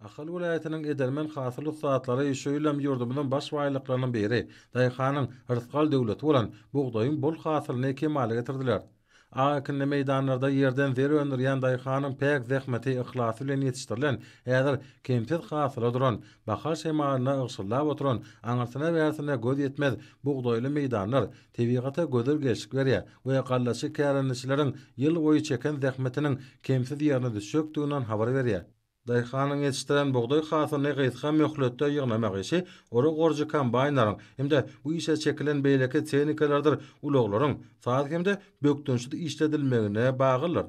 Ahal welaýatynyň edermen hasyl ussatlary şu ýylam ýurdumyzyň baş baýlyklarynyň biri, daýhanyň rysgal döwleti bolan bugdaýyň bol hasylyny kemala getirdiler. A ekinli meýdanlarda ýerden zer öndürýän daýhanyň päk zähmeti, yhlasy bilen ýetişdirilen, häzir kemsiz hasyla duran, bahar şemalyna ygşyldap oturan, aňyrsyna-bärsine göz ýetmez bugdaýly meýdanlar tebigata gözel gelşik berýär we gallaçy kärendeçileriň ýylboýy çeken zähmetiniň kemsiz ýerine düşjekdiginden habar berýär. Daýhanyň ýetişdiren bugdaý hasylyny gysga möhletde ýygnamak işi ora goruja kombaýnlaryň hem-de bu işe çekilen beýleki tehnikalardyr ulaglaryň saz hem-de bökdençsiz işledilmegine baglydyr.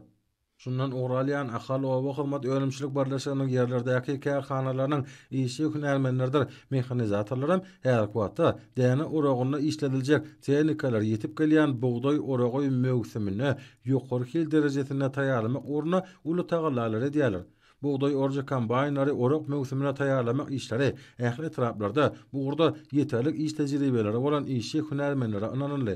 Şundan ugur alýan Ahal oba hyzmat önümçilik birleşiginiň ýerlerdäki kärhanalarynyň işçi hünärmenleridir mehanizatorlaram häzirki wagtda däne oragynda işlediljek tehnikalar ýetip gelýän bugdaý oragy möwsümine ýokary hil derejesinde taýýarlamak ugrunda uly tagallalary edýärler. Bugdaý orujy kombaýnlary orak möwsümine taýýarlamak işleri ähli etraplarda bu ugurda ýeterlik iş tejribeleri bolan işçi hünärmenlere ynanyldy.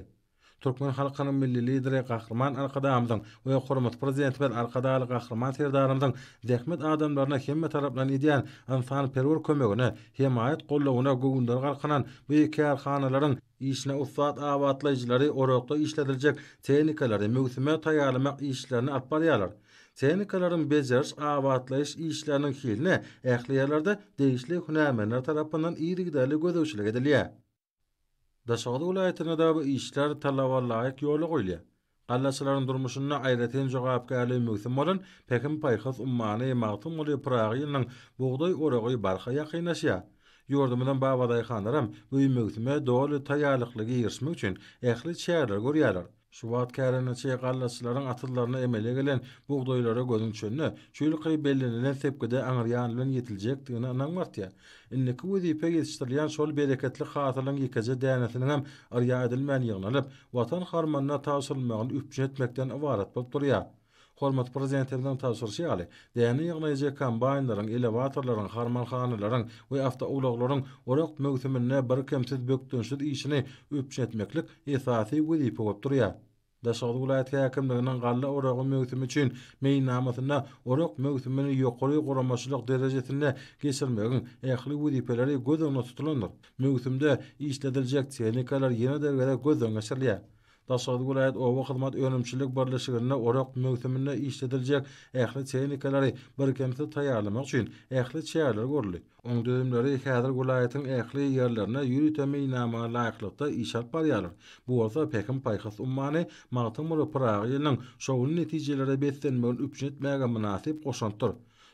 Türkmen halkynyň Milli Lideri Gahryman Arkadagymyzyň we Hormatly Prezidentimiz Arkadagly Gahryman Serdarymyzyň zähmet adamlaryna hemmetaraplaýyn edýän ynsanperwer kömegine, hemaýat goldawyna göwünleri galkynan bu kärhanalaryň işine ussat abatlaýjylary orakda işlediljek tehnikalary möwsüme taýýarlamak işlerini alyp barýarlar. Tehnikalaryň bejeriş, abatlaýyş işleriniň hiline ähli ýerlerde degişli hünärmenler tarapyndan yzygiderli gözegçilik edilýär. Daşoguz welaýatynadabu işler talaba laýyk ýola goýulýar. Gallaçylaryň durmuşynda aýratyn jogapkärli möwsüm bolan Pähim-paýhas ummany Magtymguly Pyragy ýylynyň bugdaý oragy barha ýakynlaşýar. Ýurdumyzyň babadaýhanlaram bu möwsüme doly taýýarlykly girişmek üçin ähli çäreleri görýärler. Şu wagt kärendeçi gallaçylaryň asyllarynda emele gelen bugdaýlara gözüň düşende, çüýlükaý bellenilen sepgide aňryýan bilen ýetiljekdigine ynam artýar. Indiki wezipe ýetişdirilýän şol bereketli hasylyň ýekeje dänesiniňem yrýa edilmän ýygnalyp, Watan harmanyna tabşyrylmagyny üpjün etmekden ybarat bolup durýar. Hormatly Prezidentimiziň tabşyryşy ýaly, däne ýygnaýjy kombaýnlaryň, elewatorlaryň, harmanhanalaryň we awtoulaglaryň orak möwsüminde birkemsiz bökdençsiz işini üpjün etmeklik esasy wezipe bolup durýar. Daşoguz welaýat häkimliginiň galla oragy möwsümi üçin meýilnamasynda orak möwsümini ýokary guramaçylyk derejesinde geçirmegiň ähli wezipeleri göz öňünde tutulandyr. Möwsümde işlediljek tehnikalar ýene-de gezek gözden geçirilýär. Daşoguz welaýat oba hyzmat önümçilik birleşiginde orak möwsüminde işlediljek ähli tehnikalary birkemsiz taýýarlamak üçin ähli çäreler görüldi. Oň düzümleri häzir welaýatyň ähli ýerlerinde ýörite meýilnamaga laýyklykda iş alyp barýarlar. Bu bolsa Pähim-paýhas ummany Magtymguly Pyragy ýylynyň şowly netijelere beslenmegini üpjün etmäge mynasyp goşantdyr.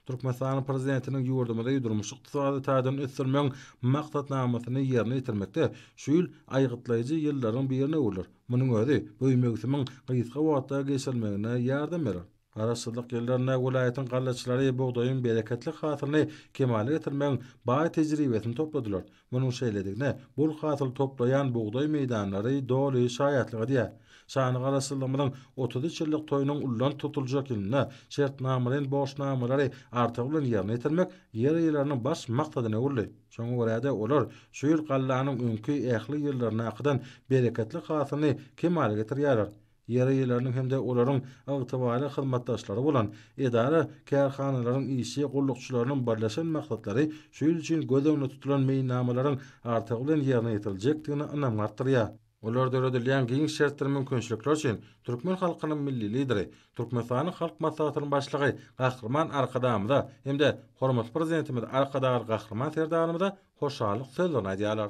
Türkmenistanyň Prezidentiniň ýurdumyzy durmuş-ykdysady taýdan ösdürmegiň maksatnamasyny ýerine ýetirmekde şu ýyl aýgytlaýjy ýyllaryň birine öwrüler. Munuň özi bu möwsümiň gysga wagtda geçirilmegine ýardam berer. Garaşsyzlyk ýyllarynda welaýatyň gallaçylary bugdaýyň bereketli hasylyny kemala getirmegiň baý tejribesini topladylar. Munuň şeýledigine bol hasyl toplaýan bugdaý meýdanlary doly şaýatlyk edýär. Şanly Garaşsyzlygymyzyň otuz üç ýyllyk toýunyň ulanylp tutuljak ýylynda şertnamalaýyn borçnamalary artygy bilen ýerine ýetirmek ýer eýeleriniň baş maksadyna öwrüldi. Şoňa görä-de, olar şu ýyl gallanyň öňki ähli ýyllaryndakydan bereketli hasylyny kemala getirýärler. ýer eýeleriniň hem-de olaryň ygtybarly hyzmatdaşlary bolan edara, kärhanalaryň işçi gullukçylarynyň birleşen maksatlary şu ýyl üçin göz öňünde tutulan meýilnamalaryň artygy bilen ýerine ýetiriljekdigine ynamy artdyrýar. Olar döredilýän giň şertler mümkinçilikler üçin türkmen halkynyň Milli Lideri, Türkmenistanyň Halk Maslahatynyň Başlygy Gahryman Arkadagymyza hem-de hormatly Prezidentimiz Arkadagly Gahryman Serdarymyza hoşallyk sözlerini aýdýarlar.